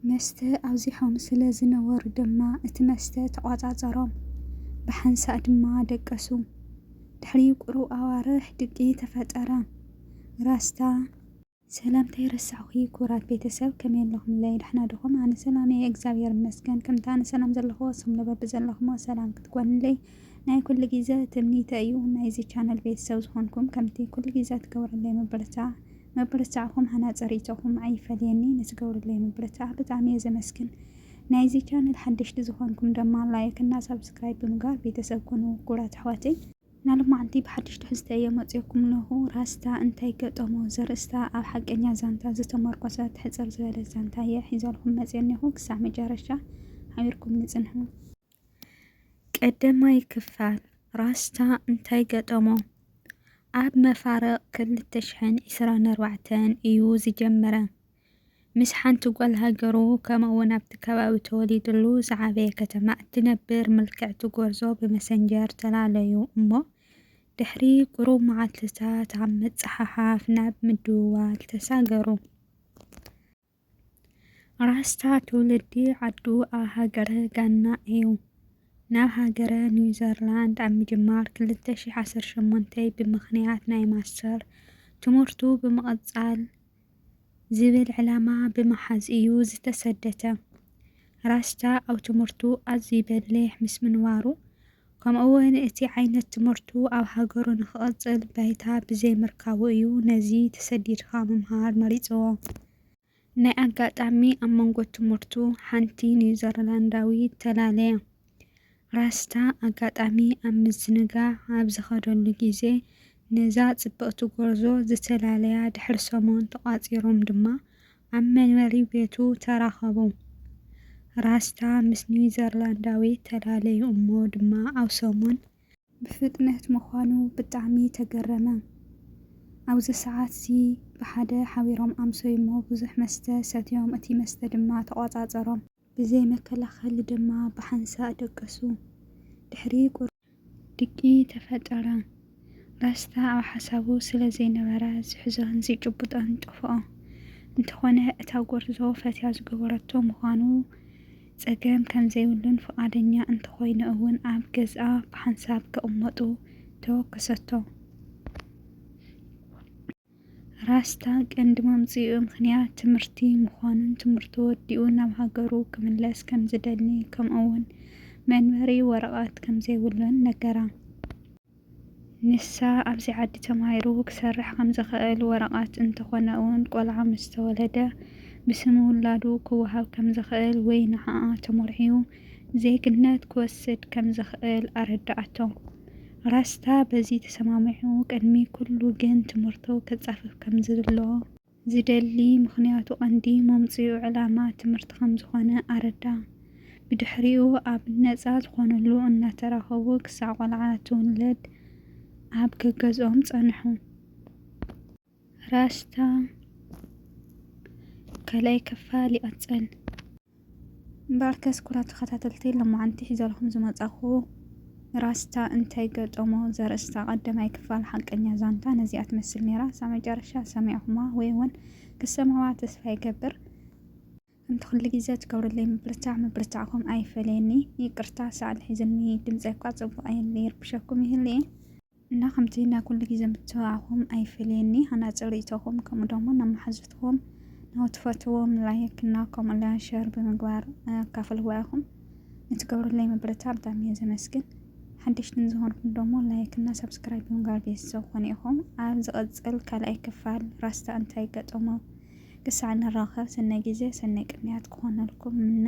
መስተ ኣብዚሖም ስለ ዝነበሩ ድማ እቲ መስተ ተቖጻጸሮም፣ ብሓንሳእ ድማ ደቀሱ። ድሕሪ ቁሩብ ኣዋርሕ ድቂ ተፈጠረ። ራስታ። ሰላምታይ ረሳዕኩ ክቡራት ቤተሰብ ከመይ ኣለኹምለይ ዳሕና ድኹም ኣነ ሰላም እየ እግዛብሄር ይመስገን ከምቲ ኣነ ሰላም ዘለኹዎ ንስኹም ለ በብዘለኹምዎ ሰላም ክትኮኑለይ ናይ ኩሉ ግዘ ትምኒተይ እዩ ናይዚ ቻነል ቤተሰብ ዝኾንኩም ከምቲ ኩሉ ግዘ ትገብሩለይ ምብርታ ምብርታዕኩም ሃናጺ ሪኢቶኹም ኣይፈለየኒ ንትገብሩለይ ምብርታዕ ብጣዕሚ እየ ዘመስግን ናይዚ ቻነል ሓደሽቲ ዝኾንኩም ደማ ላይክ እና ሳብስክራይብ ብምግባር ቤተሰብ ኩኑ ኩቡራት ኣሕዋተይ። ናልማዓንቲ ብሓድሽ ትሕዝተ እየ መፂኦኩም ለኹ ራስታ እንታይ ገጠሞ ዘርእስታ ኣብ ሓቀኛ ዛንታ ዝተመርኮሰ ትሕፅር ዝበለት ዛንታ እየ ሒዘልኹም መፅየ እኔኹ ክሳዕ መጨረሻ ሓቢርኩም ንፅንሑ። ቀዳማይ ክፋል፣ ራስታ እንታይ ገጠሞ? ኣብ መፋርቕ ክልተ ሽሕን ዕስራን ኣርባዕተን እዩ ዝጀመረ። ምስ ሓንቲ ጓል ሃገሩ ከምኡ'ውን ኣብቲ ከባቢ ተወሊድሉ ዝዓበየ ከተማ እትነብር ምልክዕቲ ጎርዞ ብመሰንጀር ተላለዩ እሞ ድሕሪ ቁሩብ መዓልትታት ኣብ ምጽሓሓፍ ናብ ምድውዋል ተሳገሩ። ራስታ ትውልዲ ዓዱ ኣብ ሃገረ ጋና እዩ። ናብ ሃገረ ኒውዘርላንድ ኣብ ምጅማር ክልተ ሺሕ ዓሰርተ ሸሞንተ ብምኽንያት ናይ ማስተር ትምህርቱ ብምቕጻል ዝብል ዕላማ ብምሓዝ እዩ ዝተሰደተ። ራስታ ኣብ ትምህርቱ ኣዝዩ በሊሕ ምስ ምንባሩ፣ ከምኡ'ውን እቲ ዓይነት ትምህርቱ ኣብ ሃገሩ ንክቕጽል ባይታ ብዘይምርካቡ እዩ ነዚ ተሰዲድካ ምምሃር መሪጽዎ። ናይ ኣጋጣሚ ኣብ መንጎ ትምህርቱ ሓንቲ ኒውዘርላንዳዊት ተላለየ። ራስታ ኣጋጣሚ ኣብ ምዝንጋዕ ኣብ ዝኸደሉ ግዜ ነዛ ጽብቕቲ ጎርዞ ዝተላለያ ድሕሪ ሰሙን ተቋጺሮም ድማ ኣብ መንበሪ ቤቱ ተራኸቡ። ራስታ ምስ ኒውዘርላንዳዊ ተላለዩ እሞ ድማ ኣብ ሰሙን። ብፍጥነት ምዃኑ ብጣዕሚ ተገረመ። ኣብዚ ሰዓት'ዚ ብሓደ ሓቢሮም ኣምሰዩ'ሞ ብዙሕ መስተ ሰትዮም እቲ መስተ ድማ ተቖጻጸሮም። ብዘይ መከላኸሊ ድማ ብሓንሳእ ደቀሱ። ድሕሪ ቁሩብ። ድቂ ተፈጠረ። ራስታ ኣብ ሓሳቡ ስለ ዘይነበረ ዝሕዞን ዝጭብጦን ጠፍኦ። እንተኾነ እታ ጎርዞ ፈትያ ዝገበረቶ ምዃኑ ጸገም ከም ዘይብሉን ፍቓደኛ እንተኾይኑ እውን ኣብ ገዝኣ ብሓንሳብ ክቕመጡ ተወከሰቶ። ራስታ ቀንዲ መምጽኢኡ ምኽንያት ትምህርቲ ምዃኑን ትምህርቱ ወዲኡ ናብ ሃገሩ ክምለስ ከም ዝደሊ ከምኡ'ውን መንበሪ ወረቐት ከም ዘይብሉን ነገራ። ንሳ ኣብዚ ዓዲ ተማሂሩ ክሰርሕ ከም ዝኽእል ወረቐት እንተኾነ'ውን ቆልዓ ምስ ተወለደ ብስም ውላዱ ክወሃብ ከም ዝኽእል ወይ ንዓኣ ተሞርዕዩ ዜግነት ክወስድ ከም ዝኽእል ኣረድኣቶ። ራስታ በዚ ተሰማሚዑ ቅድሚ ኩሉ ግን ትምህርቱ ከጻፍፍ ከምዝብሎ ዝደሊ ምኽንያቱ ቀንዲ መምጽኢኡ ዕላማ ትምህርቲ ከምዝኾነ ኣረዳ። ብድሕሪኡ ኣብ ነጻ ዝኾንሉ እናተራኸቡ ክሳዕ ቆልዓ ትውለድ ኣብ ገገዝኦም ጸንሑ። ራስታ ካልኣይ ክፋል ይቕጽል። እምበኣርከስ ኩቡራት ተኸታተልቲ ሎማዓንቲ ሒዘልኹም ዝመጻኹ ራስታ እንታይ ገጠሞ ዘርእስታ ቀዳማይ ክፋል ሓቀኛ ዛንታ ነዚኣ ትመስል ነይራ። እሳ መጨረሻ ሰሚዕኹማ ወይ እውን ክትሰምዕዋ ተስፋ ይገብር። ከምቲ ኩሉ ግዜ ትገብርለይ ምብርታዕ ምብርታዕኩም ኣይፈለየኒ። ይቅርታ ሰኣን ሒዙኒ ድምጸይ እኳ ጽቡቕ ኣይን ይርብሸኩም ይህሉ እየ። እና ከምቲ ናይ ኩሉ ግዜ ምትብባዕኹም ኣይፈለየኒ ሃናጺ ርእይቶኹም ከምኡ ደሞ ናብ መሓዙትኩም ናብ ትፈትዎም ላይክ እና ከምኡ ለ ሸር ብምግባር ኣካፍልዋ ኢኹም ንትገብሩለይ ምብርታ ብጣዕሚ እየ ዘመስግን ሓደሽቲ ንዝኾንኩም ደሞ ላይክ እና ሳብስክራይብ ብምግባር ቤተሰብ ኮኑ ኢኹም ኣብ ዝቕጽል ካልኣይ ክፋል ራስታ እንታይ ገጠሞ ክሳዕ ንራኸብ ሰናይ ግዜ ሰናይ ቅንያት ክኾነልኩም ምነ